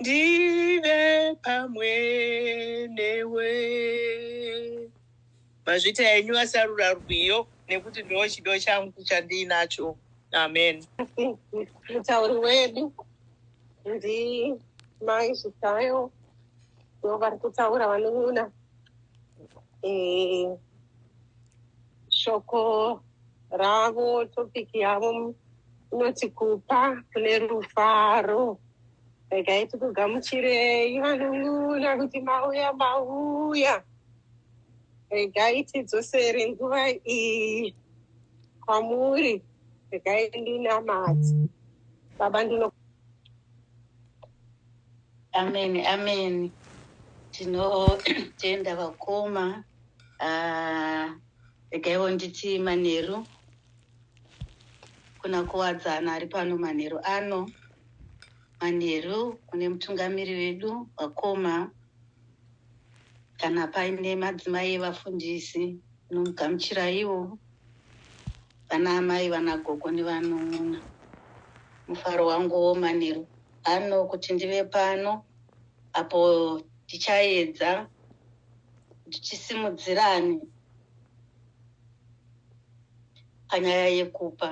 ndive pamwe newe mazvita enyu asarura rwiyo nekuti ndo chido changu chandiinacho amen mutauri wedu ndi mai zvitayo ndo vari kutaura vanun'una eh, shoko ravo topiki yavo Unoti kupa kune rufaro. Regai tikugamuchirei vanun'una kuti mauya mauya. Regai tidzosere nguva iyi kwamuri. Regai ndinamati. Baba ndino. Amen, amen. Tinotenda vakoma. Ah, regaiwo nditi manheru. Kuna Kuwadzana ari pano manheru ano. Manheru kune mutungamiri wedu vakoma kana paine madzimai evafundisi nomugamuchiraiwo vana amai vana gogo nevanun'una mufaro wangu womanheru ano kuti ndive pano apo tichaedza kuti tisimudzirane panyaya yekupa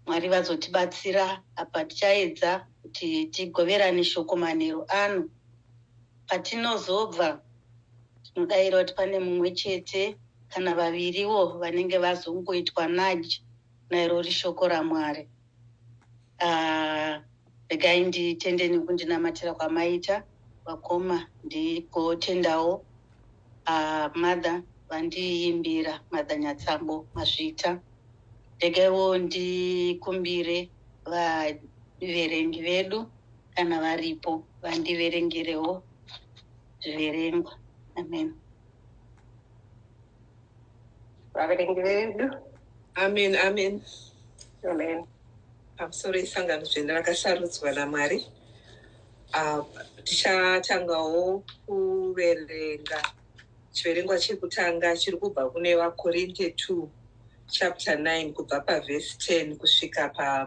mwari vazotibatsira apa tichaedza kuti tigoverane shoko manheru ano patinozobva tinodaira kuti pane mumwe chete kana vaviriwo vanenge vazongoitwa nudge nairori shoko ramwari uh, regai nditende nekundinamatira kwamaita vakoma ndigotendawo uh, ah, mother vandiimbira mother nyatsambo mazvita regaiwo ndikumbire vaverengi vedu kana varipo vandiverengerewo zviverengwa amen vaverengi vedu amen amen amen pamusoro isangano dzvene rakasarudzwa namwari ah, tichatangawo kuverenga chiverengwa chekutanga chiri kubva kune vakorinte 2 chapter 9 kubva pavhesi 10 kusvika pa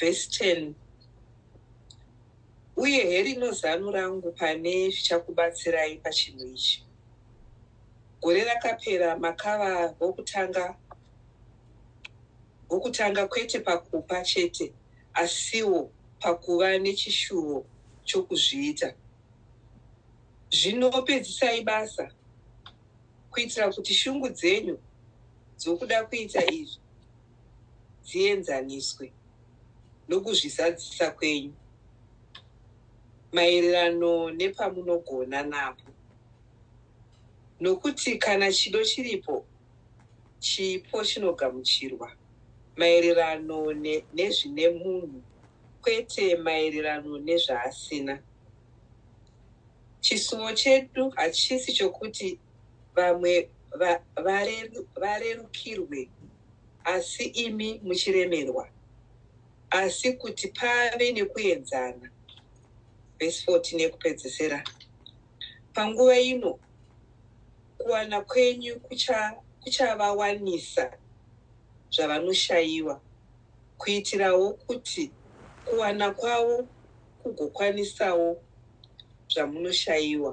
vhesi 10 uye herino zano rangu pane zvichakubatsirai pachinhu ichi gore rakapera makava vokutanga vokutanga kwete pakupa chete asiwo pakuva nechishuvo chokuzviita zvino pedzisai basa kuitira kuti shungu dzenyu dzokuda kuita izvi dzienzaniswe nokuzvizadzisa kwenyu maererano nepamunogona napo, nokuti kana chido chiripo, chipo chinogamuchirwa maererano nezvine munhu, kwete maererano nezvaasina. Chisuwo chedu hachisi chokuti vamwe varerukirwe asi imi muchiremerwa asi kuti pave nekuenzana vhesi 14 yekupedzesera panguva ino kuwana kwenyu kuchavawanisa zvavanoshayiwa kuitirawo kuti kuwana kwavo kugokwanisawo zvamunoshayiwa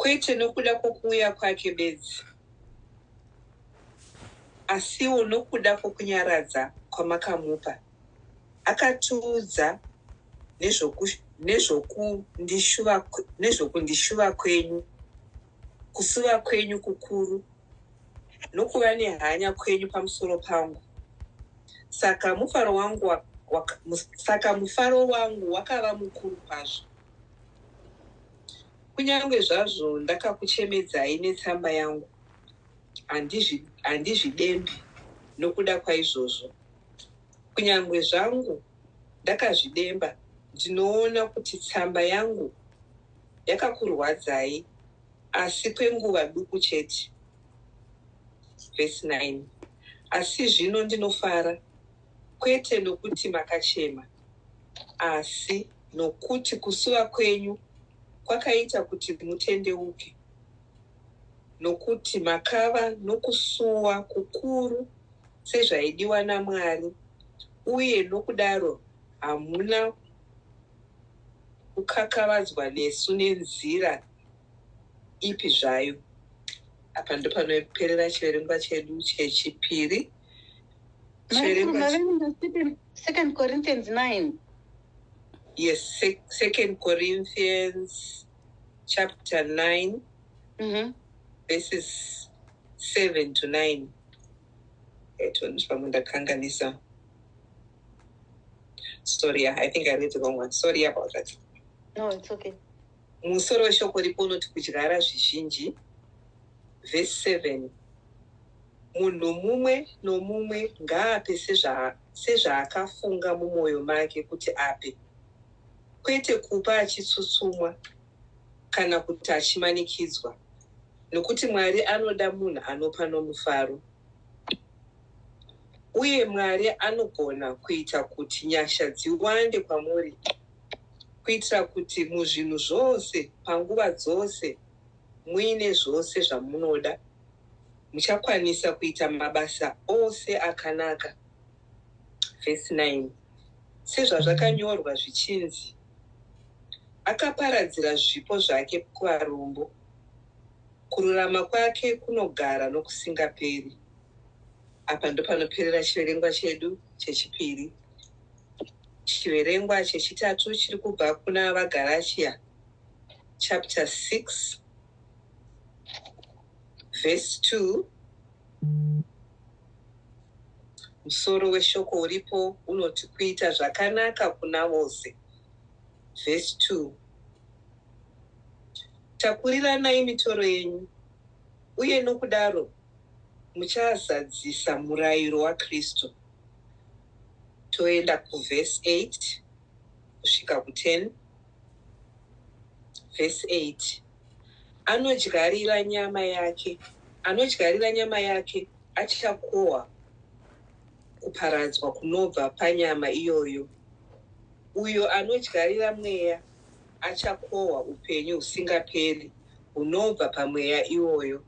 kwete nokuda kwokuuya kwake bedzi asiwo nokuda kwokunyaradza kwamakamupa akatiudza nezvokundishuva kwenyu kusuva kwenyu kukuru nokuva nehanya kwenyu pamusoro pangu saka mufaro wangu wa, wa, saka mufaro wangu wakava mukuru kwazvo kunyange zvazvo ndakakuchemedzai netsamba yangu handizvidembi nokuda kwaizvozvo kunyange zvangu ndakazvidemba ndinoona kuti tsamba yangu yakakurwadzai asi kwenguva duku chete vhesi 9 asi zvino ndinofara kwete nokuti makachema asi nokuti kusuva kwenyu kwakaita kuti mutendeuke nokuti makava nokusuwa kukuru sezvaidiwa namwari uye nokudaro hamuna kukakavadzwa nesu nenzira ipi zvayo. Apa ndopanoperera chiverengwa chedu chechipiri. Second Corinthians 9. Yes, Second Corinthians chapter 9 mm -hmm. verses 7 to 9. Eto ndipamwe ndakanganisa. Sorry, I think I read the wrong one. Sorry about that. No, it's okay. Musoro weshoko ripo unoti kudyara zvizhinji. Vhesi 7 Munhu mumwe nomumwe ngaape sezvaakafunga mumwoyo make kuti ape, kwete kupa achitsutsumwa kana kuti achimanikidzwa, nokuti Mwari anoda munhu anopa nomufaro. Uye Mwari anogona kuita kuti nyasha dziwande kwamuri kuitira kuti muzvinhu zvose, panguva dzose, muine zvose zvamunoda, muchakwanisa kuita mabasa ose akanaka. Vhesi 9 Sezvazvakanyorwa zvichinzi, Akaparadzira zvipo zvake kuvarombo, kururama kwake kunogara nokusingaperi. Apa ndopanoperera chiverengwa chedu chechipiri. Chiverengwa chechitatu chiri kubva kuna vaGaratia chapter 6 verse 2 musoro weshoko uripo unoti kuita zvakanaka kuna vose verse 2 takuriranai mitoro yenyu uye nokudaro muchazadzisa murayiro waKristu. Toenda kuverse 8 kusvika ku10. Verse 8 anodyarira nyama yake anodyarira nyama yake achakohwa kuparadzwa kunobva panyama iyoyo uyo anodyarira mweya achakohwa upenyu husingaperi hunobva pamweya iwoyo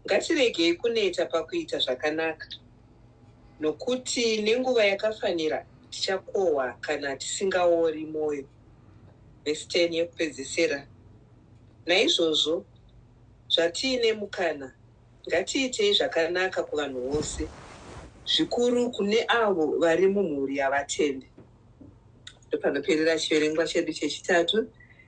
Ngatiregei kuneta pakuita zvakanaka, nokuti nenguva yakafanira tichakohwa kana tisingaori mwoyo. Vhesi 10 yekupedzesera. Naizvozvo, zvatiine mukana, ngatiitei zvakanaka kuvanhu vose, zvikuru kune avo vari mumhuri yavatende. Ndopanoperera chiverengwa chedu chechitatu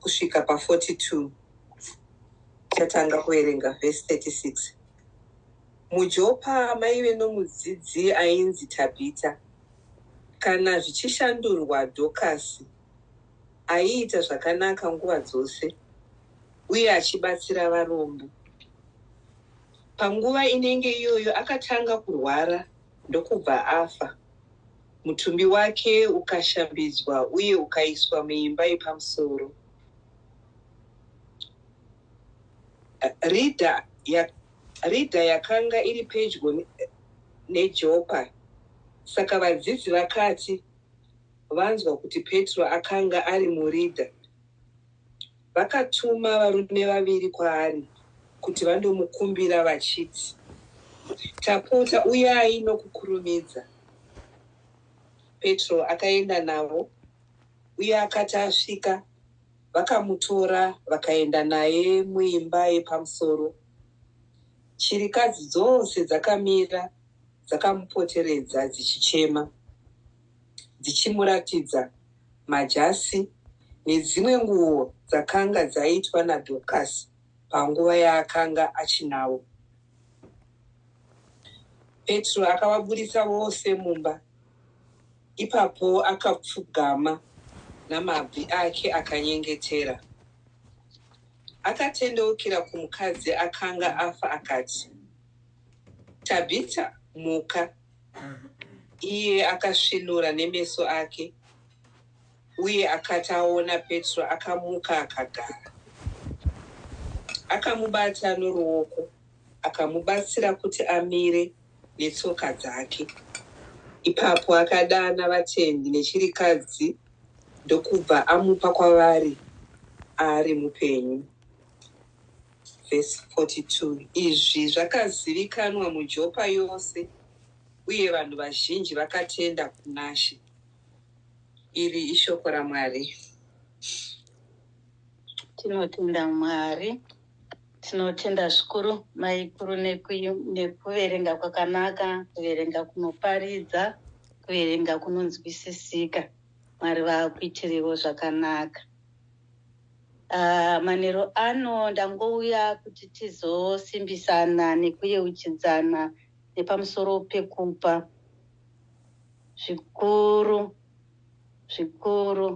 kusvika pa 42 tatanga kuverenga vhesi 36 mujopa maive nomudzidzi ainzi tabhita kana zvichishandurwa dhokasi aiita zvakanaka nguva dzose uye achibatsira varombo panguva inenge iyoyo akatanga kurwara ndokubva afa Mutumbi wake ukashambidzwa uye ukaiswa muimba yepamusoro. Ridha ya, ridha yakanga iri pedyo neJopa. Saka vadzidzi vakati vanzwa kuti Petro akanga ari muridha, vakatuma varume vaviri kwaari kuti vandomukumbira vachiti, Tapota, uyai nokukurumidza. Petro akaenda navo, uye akati asvika, vakamutora vakaenda naye muimba yepamusoro. Chirikadzi dzose dzakamira dzakamupoteredza dzichichema. dzichimuratidza majasi nedzimwe nguo dzakanga dzaitwa naDorcas panguva yaakanga achinavo. Petro akavaburitsa vose mumba. Ipapo akapfugama namabvi ake akanyengetera. Akatendeukira kumukadzi akanga afa akati, Tabhita, muka. Iye akasvinura nemeso ake, uye akati aona Petro, akamuka akagara. Akamubata noruoko, akamubatsira kuti amire netsoka dzake. Ipapo akadana vatendi nechirikadzi ndokubva amupa kwavari ari mupenyu. Vhesi 42 Izvi zvakazivikanwa muJopa yose, uye vanhu vazhinji vakatenda kunaShe. Iri ishoko raMwari. Tinotenda Mwari. Tinotenda zvikuru maiguru nekuverenga kwakanaka, kuverenga kunoparidza, kuverenga kunonzwisisika. Mwari vakuitirivo zvakanaka. Ah, manheru ano ndangouya kuti tizosimbisana nekuyeuchidzana nepamusoro pekupa zvikuru zvikuru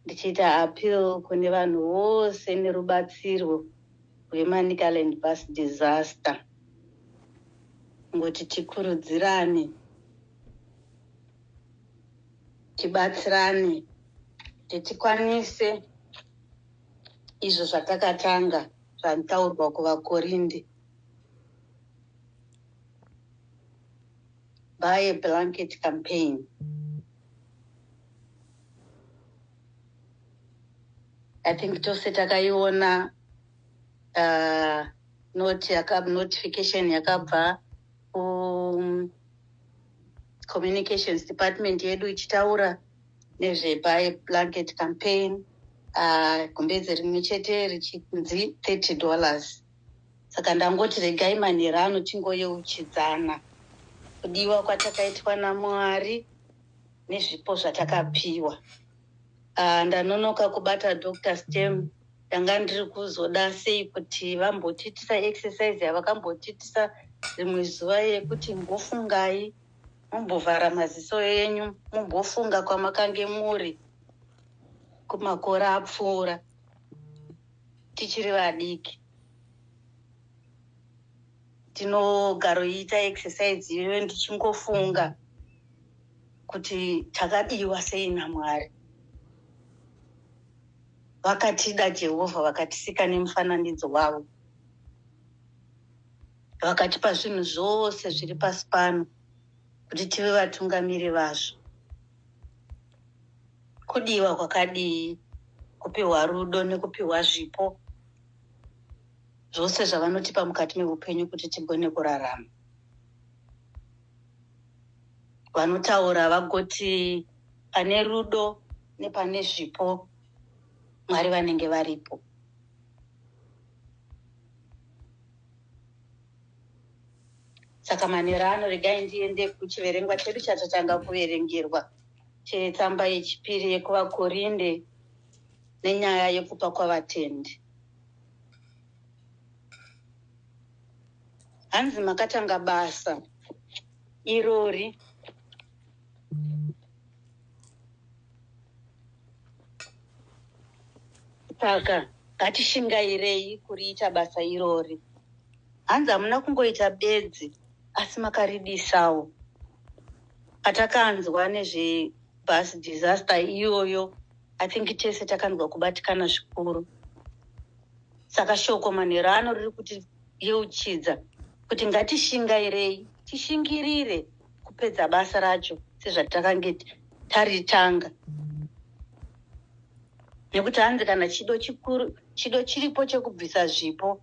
ndichiita appeal kune vanhu vose nerubatsirwo rwemanicaland bus disaster kuti tikurudzirane tibatsirane kuti tikwanise izvo zvatakatanga zvataurwa kuvakorinde by a blanket campaign i think tose takaiona uh, not yaka, notification yakabva um, communications department yedu ichitaura nezvebuy blanket campaign ah, gumbeze rimwe chete richinzi 30 dollars saka ndangoti regai manhero ano tingoyeuchidzana kudiwa kwatakaitwa namwari nezvipo zvatakapiwa Ah, ndanonoka kubata dr stem ndanga ndiri kuzoda sei kuti vambotiitisa exercise yavakambotiitisa rimwe zuva yekuti mbofungai mumbovhara maziso enyu mumbofunga kwamakange muri kumakore apfuura tichiri vadiki tinogaroiita exercise iyoyo ndichingofunga kuti takadiwa sei namwari vakatida jehovha vakatisika nemufananidzo wavo vakatipa zvinhu zvose zviri pasi pano kuti tive vatungamiri vazvo kudiwa kwakadii kupiwa rudo nekupiwa zvipo zvose zvavanotipa mukati meupenyu kuti tigone kurarama vanotaura vagoti pane rudo nepane zvipo mwari vanenge varipo saka manera ano regai ndiende kuchiverengwa chedu chatatanga kuverengerwa chetsamba yechipiri yekuvakorinde nenyaya yekupa kwavatendi hanzi makatanga basa irori saka ngatishingairei kuriita basa irori hanzi hamuna kungoita bedzi asi makaridisawo patakanzwa nezvebus disaster iyoyo i think tese takanzwa kubatikana zvikuru saka shoko manhero ano riri kutiyeuchidza kuti ngatishingairei tishingirire kupedza basa racho sezvatakange taritanga nekuti hanzi kana chido chikuru chido chiripo chekubvisa zvipo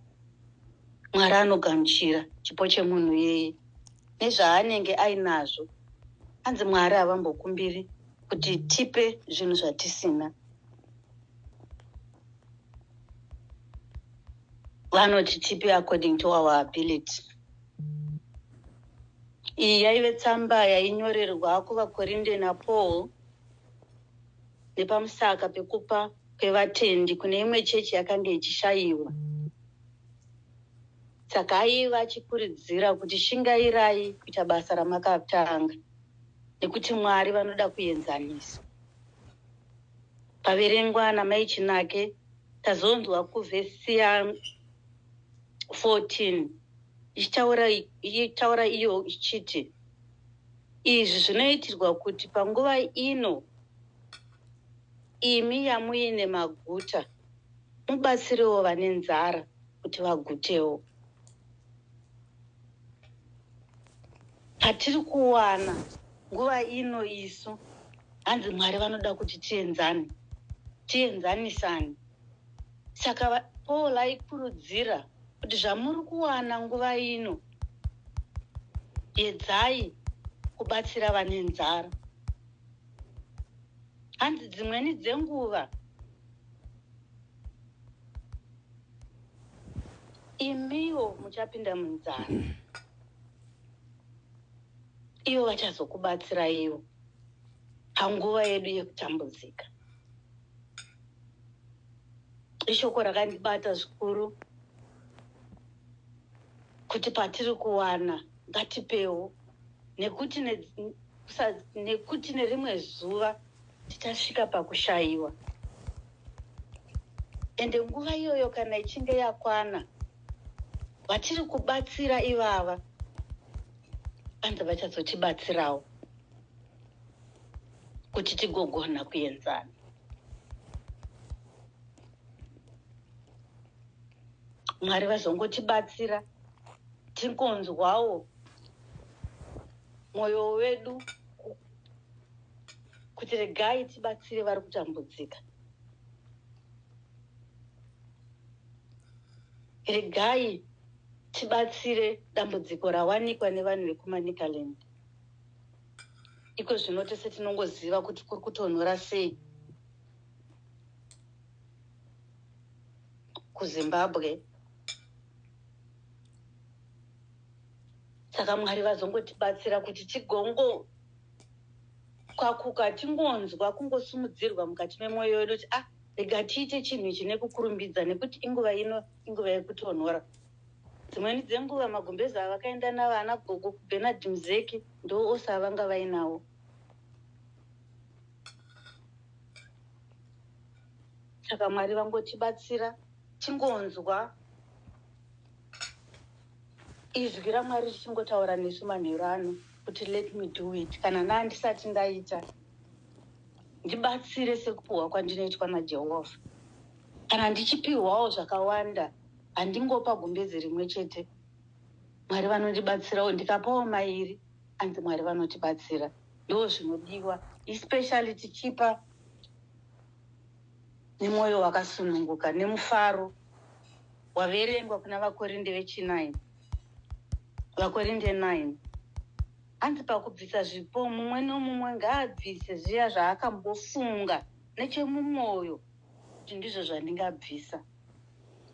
mwari anogamuchira chipo chemunhu yeye nezvaanenge ainazvo hanzi mwari havambokumbiri kuti tipe zvinhu zvatisina vanoti tipe according to our ability Iyi yaive tsamba yainyorerwa kuvaKorinde naPaul nepamusaka pekupa kwevatendi kune imwe chechi yakange ichishaiwa. Saka aiva achikuridzira kuti shingairai kuita basa ramakatanga nekuti Mwari vanoda kuenzanisa. Paverengwa naMai Chinake tazonzwa kuvhesi 14 ichitaura ichitaura iyo ichiti izvi zvinoitirwa kuti panguva ino imi yamuine maguta mubatsirewo vane nzara kuti vagutewo patiri kuwana nguva ino isu hanzi mwari vanoda kuti tienzane tienzanisane saka paul aikurudzira kuti zvamuri kuwana nguva ino yedzai kubatsira vane nzara hanzi dzimweni dzenguva imiwo muchapinda munzara ivo vachazokubatsiraiwo panguva yedu yekutambudzika ishoko rakandibata zvikuru kuti patiri kuwana ngatipewo nekuti ne, sa, nekuti nerimwe zuva tichasvika pakushayiwa ende nguva iyoyo kana ichinge yakwana vatiri kubatsira ivava vanzi vachazotibatsirawo kuti tigogona kuenzana mwari vazongotibatsira tingonzwawo mwoyo wedu kuti regai tibatsire vari kutambudzika regai tibatsire dambudziko rawanikwa nevanhu vekumanicaland iko zvino tese tinongoziva kuti kuri kutonhora sei kuzimbabwe saka mwari vazongotibatsira kuti tigongo kwakuka tingonzwa kungosimudzirwa mukati memwoyo wedu kuti ah rega tiite chinhu ichi nekukurumbidza nekuti inguva ino inguva yekutonhora dzimweni dzenguva magumbezi avakaenda navana gogo kubenard muzeki ndo ose avanga vainawo saka mwari vangotibatsira tingonzwa izwi ramwari richingotaura nesu manheru ano kuti let me do it kana naandisati ndaita ndibatsire sekupiwa kwandinoitwa najehovha kana ndichipiwawo zvakawanda handingopa gumbezi rimwe chete mwari vanondibatsirawo ndikapawo mairi anzi mwari vanotibatsira ndo zvinodiwa especially tichipa nemwoyo wakasununguka nemufaro waverengwa kuna vakorinde vechinaini vakorinde 9 hanzi pakubvisa zvipo mumwe nomumwe ngaabvise zviya zvaakambofunga nechemumwoyo kuti ndizvo zvandingabvisa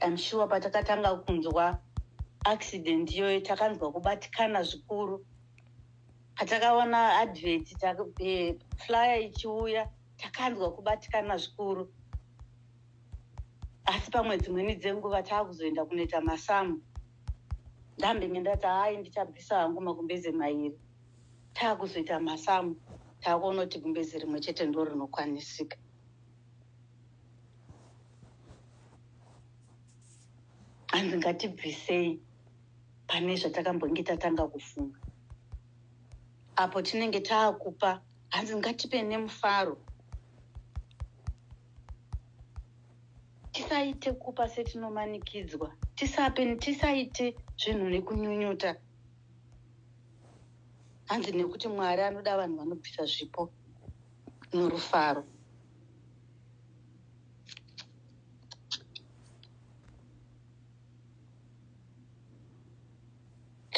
I'm sure patakatanga kunzwa accident iyoyo takanzwa kubatikana zvikuru patakaona advert eh, flyer ichiuya takanzwa kubatikana zvikuru asi pamwe dzimweni dzenguva taakuzoenda kunoita masamu ndambenge ndati hai ndichabvisa hangu makumbeze mairi taakuzoita masamu taakuona kuti gumbeze rimwe chete ndo rinokwanisika hanzi ngatibvisei pane zvatakambonge tatanga kufunga apo tinenge taakupa hanzi ngatipe nemufaro tisaite kupa setinomanikidzwa tisape tisaite zvinhu nekunyunyuta hanzi nekuti mwari anoda vanhu vanobvisa zvipo norufaro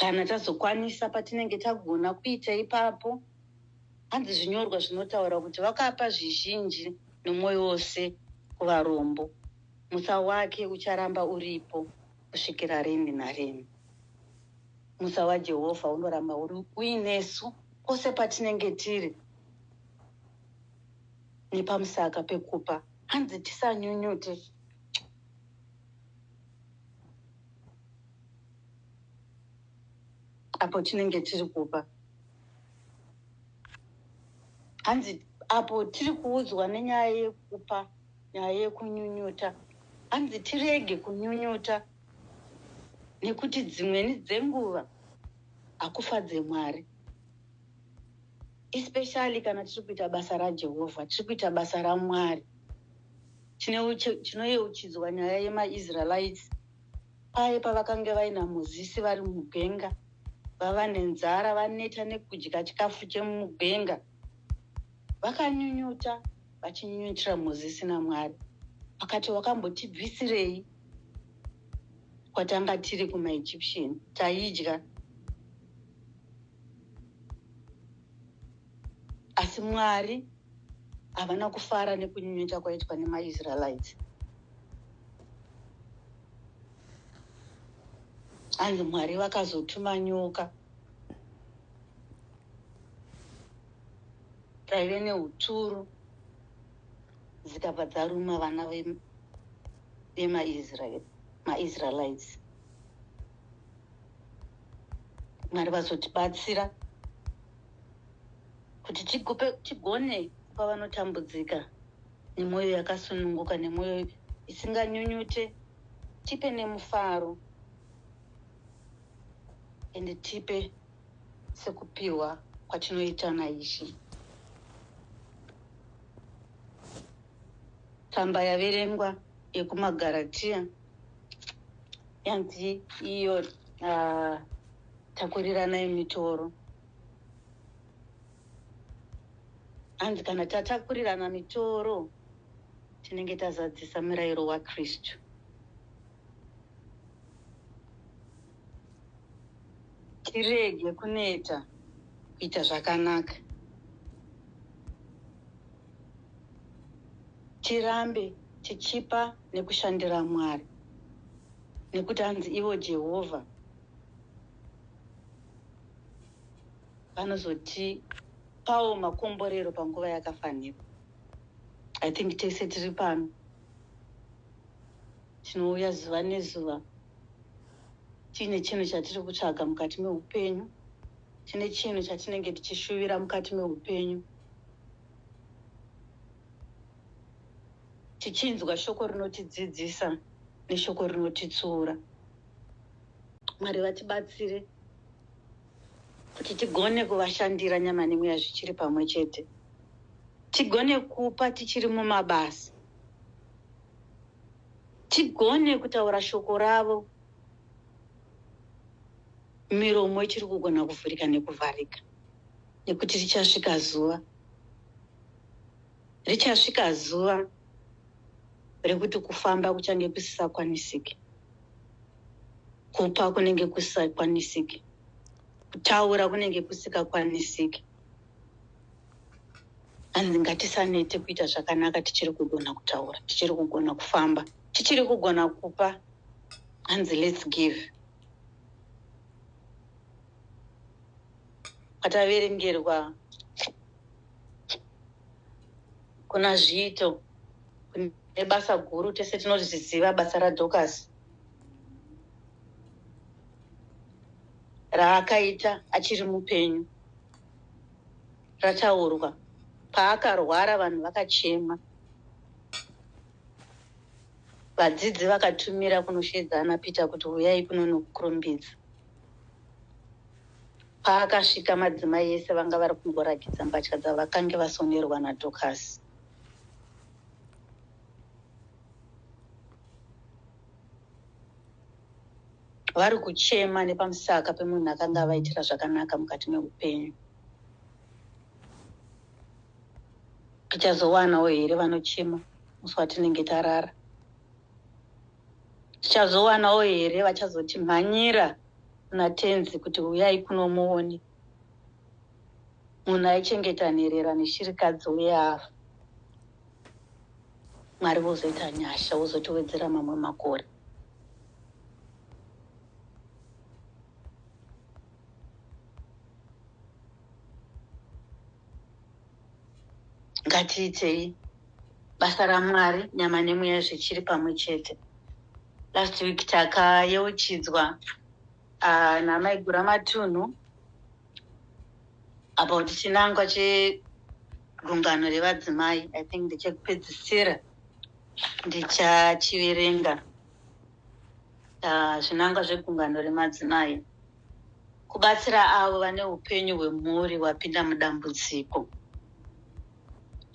kana tazokwanisa patinenge tagona kuita ipapo hanzi zvinyorwa zvinotaura kuti vakapa zvizhinji nomwoyo wose kuvarombo musa wake ucharamba uripo kusvikira rini narini musa wajehovha unoramba uri uinesu kwose patinenge tiri nepamusaka pekupa hanzi tisanyunyute apo tinenge tiri kupa hanzi apo tiri kuudzwa nenyaya yekupa nyaya yekunyunyuta hanzi tirege kunyunyuta nekuti dzimweni dzenguva hakufadze mwari especially kana tiri kuita basa rajehovha tiri kuita basa ramwari tinoyeuchidzwa nyaya yemaisraelites paye pavakange vaina mozisi vari mugwenga vava nenzara vaneta nekudya chikafu chemugwenga vakanyunyuta vachinyunyutira mozisi namwari vakati wakambotibvisirei kwatanga tiri kumaegyptian taidya asi mwari havana kufara nekunyunyuta kwaitwa nemaisraelites hanzi mwari vakazotuma nyoka dzaive neuturu dzikabva dzaruma vana vemaisraelites mwari vazotibatsira kuti tigupe tigone kupa vanotambudzika nemwoyo yakasununguka nemwoyo isinganyunyute tipe nemufaro ende tipe sekupiwa kwatinoita naishi tsamba yaverengwa yekumagaratiya yanzi iyo uh, takurirana yemitoro hanzi kana tatakurirana mitoro tinenge tazadzisa murayiro wakristu tirege kuneta kuita zvakanaka tirambe tichipa nekushandira mwari nekuti hanzi ivo jehovha vanozotipawo makomborero panguva yakafanira i think tese tiri pano tinouya zuva nezuva tiine chinhu chatiri kutsvaga mukati meupenyu tine chinhu chatinenge tichishuvira mukati meupenyu tichinzwa shoko rinotidzidzisa neshoko rinotitsiura mwari vatibatsire kuti tigone kuvashandira nyama nemweya zvichiri pamwe chete tigone kupa tichiri mumabasa tigone kutaura shoko ravo miromo ichiri kugona kuvhurika nekuvharika nekuti richasvika zuva richasvika zuva rekuti kufamba kuchange kusisakwanisiki kupa kunenge kusisakwanisiki kutaura kunenge kusikakwanisiki hanzi ngatisanete kuita zvakanaka tichiri kugona kutaura tichiri kugona kufamba tichiri kugona kupa hanzi lets give ataverengerwa kuna zviito kune basa guru tese tinozviziva basa radocas raakaita achiri mupenyu rataurwa paakarwara vanhu vakachema vadzidzi vakatumira kunosheedza ana peter kuti huyai kuno nokukurumbidza paakasvika madzimai ese vanga vari kungorakidza mbatya dzavakange vasonerwa nadhokasi vari kuchema nepamusaka pemunhu akanga avaitira zvakanaka mukati meupenyu tichazowanawo here vanochema musi watinenge tarara tichazowanawo here vachazoti mhanyira kuna tenzi kuti uyai kuno muone munhu aichengeta nherera neshirikadzi uye afa Mwari vozoita nyasha vozotowedzera mamwe makore. Ngatiitei basa raMwari nyama nemweya zvichiri pamwe chete. Last week takayeuchidzwa uh, ah, naMaigura Matunhu about chinangwa chegungano revadzimai i think ndechekupedzisira ndichachiverenga ah, zvinangwa uh, zvegungano remadzimai kubatsira avo vane upenyu hwemhuri hwapinda mudambudziko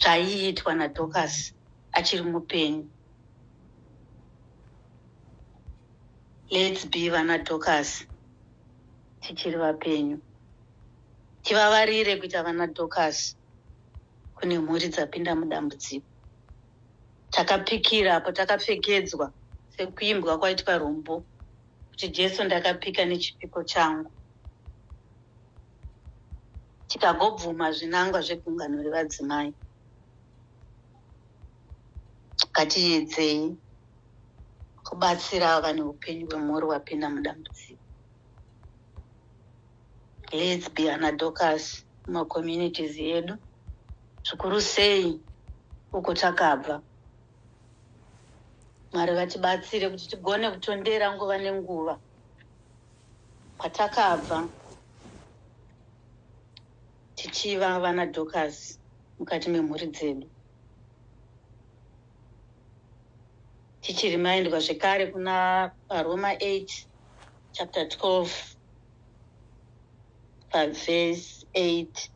zvaiitwa nadocas achiri mupenyu lets be vana docas tichiri vapenyu tivavarire kuita vana docas kune mhuri dzapinda mudambudziko takapikira apo takapfekedzwa sekuimbwa kwaitwa rumbo kuti jesu ndakapika nechipiko changu tikagobvuma zvinangwa zvegungano revadzimai ngatiedzei kubatsira vane upenyu hwemhuri hwapinda mudambudziko lets be anadocus mumacommunities edu zvikuru sei uko takabva mwari vatibatsire kuti tigone kutondera nguva nenguva kwatakabva tichiva vana docus mukati memhuri dzedu tichirimaindwa zvekare kuna varoma 8 chapter 12 pavhesi 8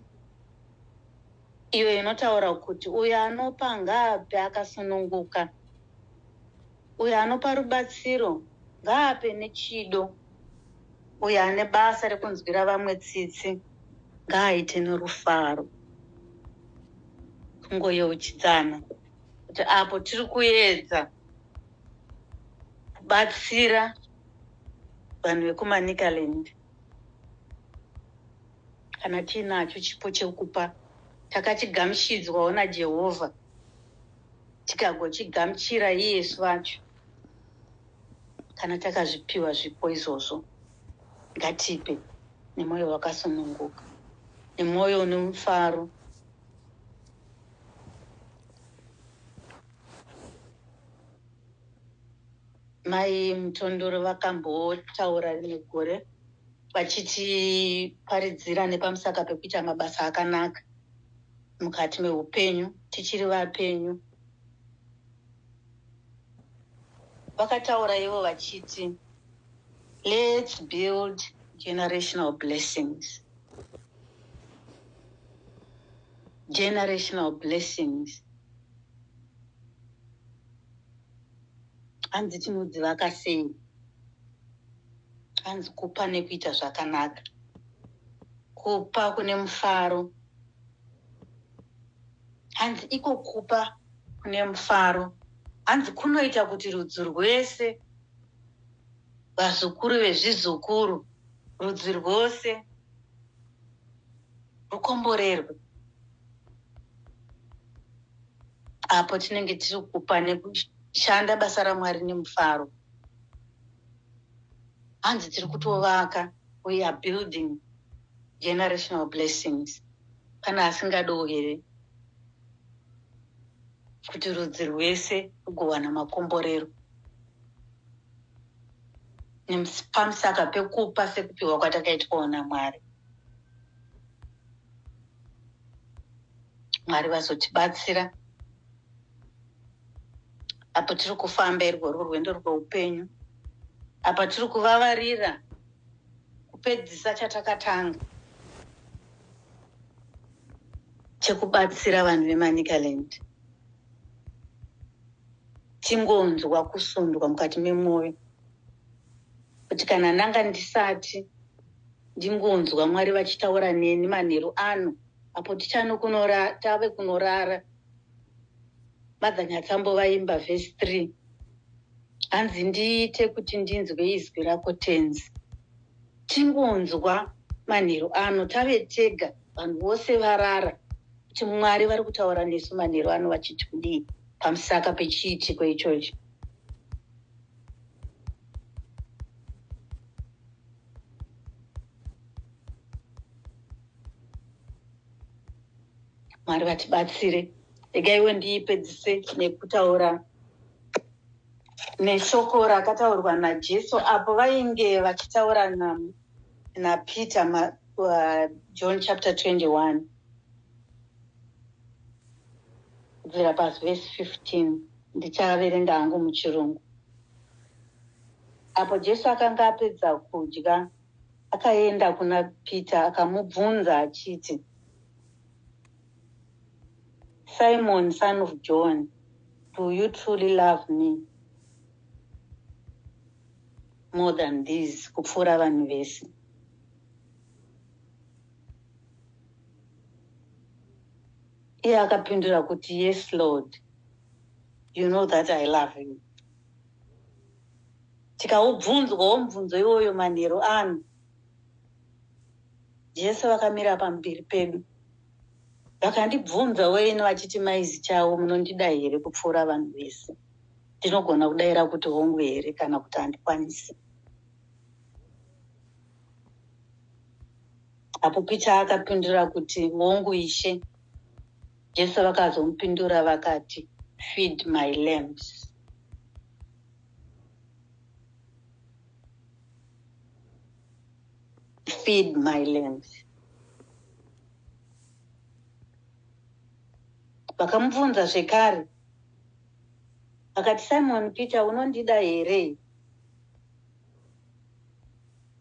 iyo inotaura kuti uyo anopa ngaape akasununguka uyo anopa rubatsiro ngaape nechido uyo ane basa rekunzwira vamwe tsitsi ngaaite nerufaro kungoyeuchidzana kuti apo tiri kuedza kubatsira vanhu vekumanicaland kana tiinacho chipo chekupa takachigamuchidzwawo najehovha tikagochigamuchira iyesu vacho kana takazvipiwa zvipo izvozvo ngatipe nemwoyo wakasununguka nemwoyo unemufaro mai mutondoro vakambotaura rimwe gore vachitiparidzira nepamusaka pekuita mabasa akanaka mukati meupenyu tichiri vapenyu vakataura ivo vachiti lets build generational blessings generational blessings hanzi tinodzivaka sei hanzi kupa nekuita zvakanaka kupa kune mufaro hanzi iko kupa kune mufaro hanzi kunoita kuti rudzi rwese vazukuru vezvizukuru rudzi rwose rukomborerwe apo tinenge tiri kupa nekushanda basa ramwari nemufaro hanzi tiri kutovaka we are building generational blessings pane asingadiwo here kuti rudzi rwese rugowana makomborero pamusaka pekupa sekupiwa kwatakaitwawo namwari mwari vazotibatsira apo tiri kufamba irwo rwo rwendo rweupenyu apa tiri kuvavarira kupedzisa chatakatanga chekubatsira vanhu vemanicaland tingonzwa kusundwa mukati memwoyo kuti kana ndanga ndisati ndingonzwa mwari vachitaura neni manheru ano apo tichano kunora tave kunorara mother nyatsambo vaimba vhesi three hanzi ndiite kuti ndinzwe izwi rako tenzi tingonzwa manheru ano tave tega vanhu vose varara kuti mwari vari kutaura nesu manheru ano vachiti kudii pamusaka pechiitiko ichocho mwari vatibatsire regaiwo ndiipedzise nekutaura neshoko rakataurwa najesu apo vainge vachitaura napeter na uh, john chapter 21 kubvira pavhesi 15 ndichaverenga hangu muchirungu apo jesu akanga apedza kudya akaenda kuna peter akamubvunza achiti Simon son of John, do you truly love me more than these kupfuura vanhu vese? Iye akapindura kuti yes Lord, you know that I love you. Tikaubvunzwawo mubvunzo iwoyo manheru ano jese vakamira pamberi pedu vakandibvunza weini vachiti maizi chavo munondida here kupfuura vanhu vese ndinogona kudaira kuti hongu here kana kuti handikwanisi apo picha akapindura kuti hongu ishe jesu vakazomupindura vakati feed my lamps feed my lambs vakamubvunza zvekare akati simon peter unondida here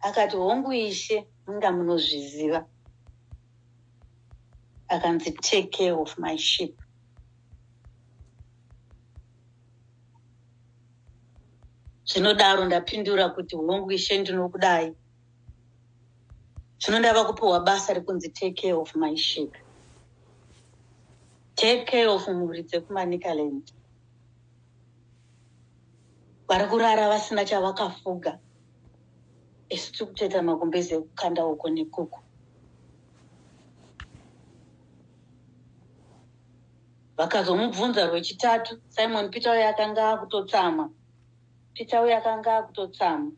akati hongu ishe inga munozviziva akanzi take care of my ship zvinodaro ndapindura kuti hongu ishe ndinokudai zvino ndava kupiwa basa rekunzi take care of my ship take care of mhuri dzekumanicaland vari kurara vasina chavakafuga isu tiri kutoita makumbezi ekukanda uko nekuku Vakazomubvunza rwechitatu Simon Peter uye akanga akutotsamwa. Peter uye akanga akutotsamwa.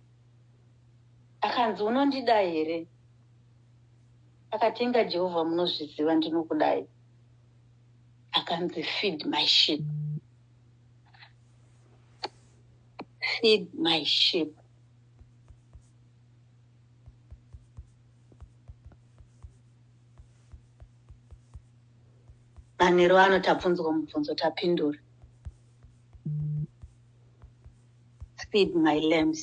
Akanzi unondida here? Akatenga Jehovah munozviziva ndinokudai. Akanzi feed my sheep. Feed my sheep. manheru ano tabvunzwa mubvunzo tapindura feed my lambs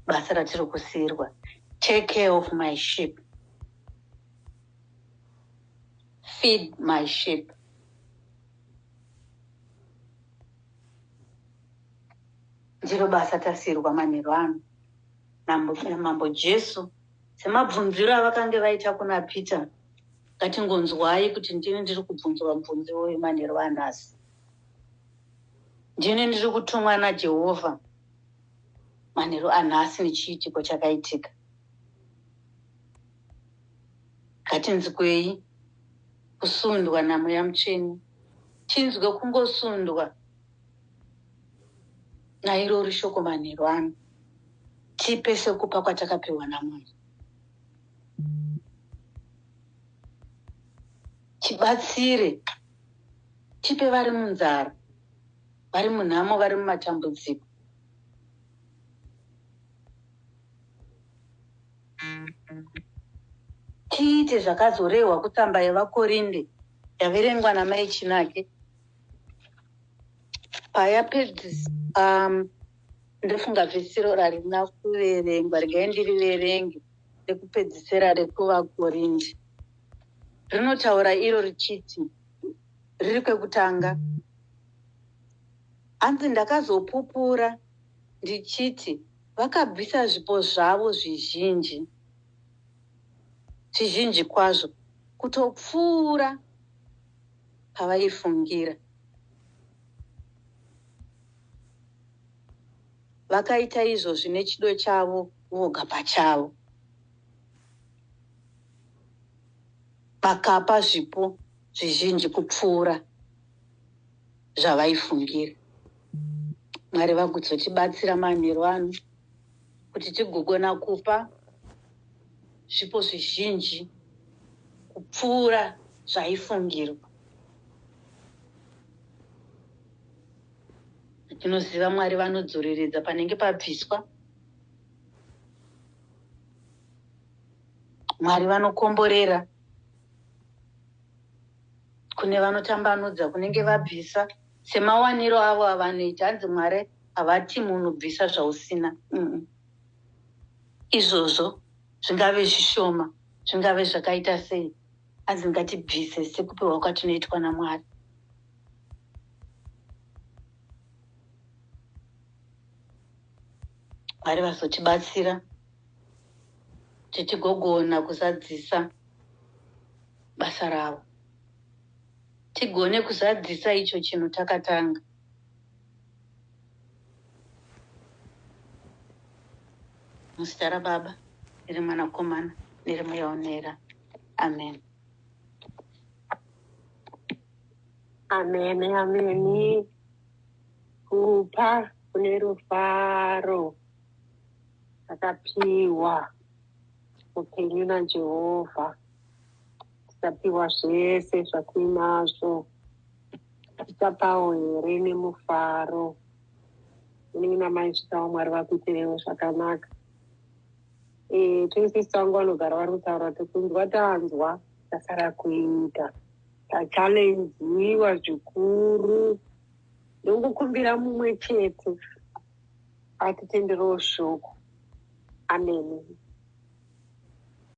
basa ratiri kusiyirwa take care of my ship feed my ship ndiro basa tasiyirwa manheru ano mambo jesu semabvunziro avakange vaita kuna peter ngatingonzwai kuti ndini ndiri kubvunzwa mubvunzi uyu manheru anhasi ndini ndiri kutumwa najehovha manheru anhasi nechiitiko chakaitika ngatinzwei kusundwa namweya mutsvene tinzwe kungosundwa nairori shoko manheru ano tipe sekupa kwatakapiwa namunhu tibatsire tipe vari munzara vari munhamo vari mumatambudziko tiite zvakazorehwa kutsamba yevakorinde yaverengwa namai chinake paya pedzis um, ndofunga vhesiro rarina kuverengwa regai ndiriverenge rekupedzisira rekuvakorindi rinotaura iro richiti riri kwekutanga hanzi ndakazopupura ndichiti vakabvisa zvipo zvavo zvizhinji zvizhinji kwazvo kutopfuura pavaifungira. Vakaita izvo zvine chido chavo voga pachavo. Vakapa zvipo zvizhinji kupfuura zvavaifungira. Mwari vagutsotibatsira manheru ano. kuti tigogona kupa zvipo zvizhinji kupfuura zvaifungirwa. Tinoziva Mwari vanodzoreredza panenge pabviswa. Mwari vanokomborera kune vanotambanudza kunenge vabvisa semawaniro avo avanoita hanzi Mwari havati munhu bvisa zvausina mm. izvozvo zvingave zvishoma zvingave zvakaita sei hanzi ngatibvise sekupiwa kwatinoitwa namwari mwari vazotibatsira titigogona kuzadzisa basa ravo tigone kuzadzisa icho chinhu takatanga muzita rababa nerimwanakomana nerimweyaonera amen amen ameni kupa kune rufaro akapiwa upenyu najehovha tikapiwa zvese zvakuinazvo Tichapawo here nemufaro unenge namai svitawo mwari vakuitirewo zvakanaka eh, tese sangu vanogara vari kutaura tikunzwa tanzwa tasara kuita tachalenziwa zvikuru ndongokumbira mumwe chete atitenderewo shoko amene